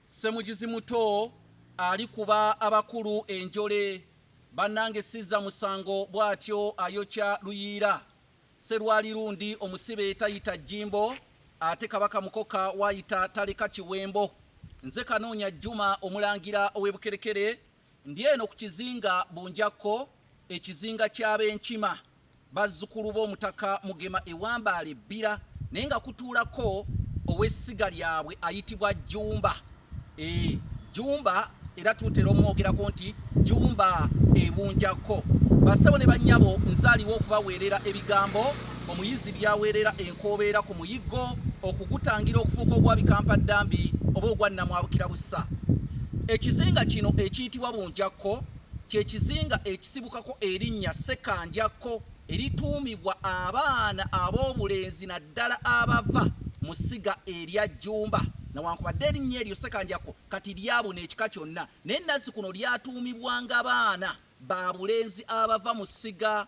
Ssemujuzi muto alikuba abakulu enjole bannange sizza musango bw'atyo ayokya luyiira Sserwali lundi omusibe tayita jjimbo ate kabaka mukoka w'ayita taleka kiwembo nze kanoonya Juma omulangira ow'e Bukerekere Ndi eno ku kizinga Bunjakko, ekizinga ky'Abenkima, bazzukulu b'Omutaka Mugema e Wambaale e Bbira, naye nga kutuulako ow'essiga lyabwe ayitibwa Jjumba. Eeh, Jjumba era tutera omwogerako nti Jjumba e Bunjakko. Bassebo ne bannyabo nze aliwo okubaweerera ebigambo. Omuyizi byaweerera enkoobeera ku muyiggo okugutangira okufuuka ogwa bikampa-ddambi oba ogwa nnamwabukira bussa. Ekizinga kino ekiyitibwa Bunjakko kye kizinga ekisibukako erinnya Ssekanjakko erituumibwa abaana ab'obulenzi naddala abava mu ssiga erya Jjumba. Newankubadde erinnya eryo Ssekanjakko kati lyabuna ekika kyonna, naye nazzikuno lyatuumibwanga baana ba bulenzi abava mu ssiga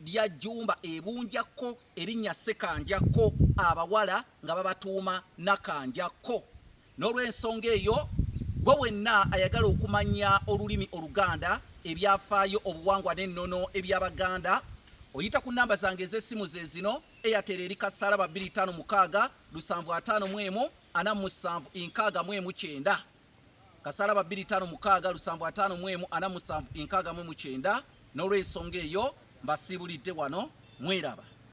lya Jjumba e Bunjakko erinnya Ssekanjakko abawala nga babatuuma Nakanjakko. N'olwensonga eyo, gwe wenna ayagala okumanya olulimi Oluganda, ebyafaayo, obuwangwa n'ennono eby'Abaganda, oyita ku nnamba zange ez'essimu ze zino, Airtel eri kassaalaba bbiri ttaano mukaaga lusanvu ataano mu emu ana mu musanvu nkaaga mu emu kyenda. kasalaba 256 lusambu 5 mu emu ana musanvu enkaaga mu mukyenda n'olw'ensonga eyo mbasiibulidde wano mweraba.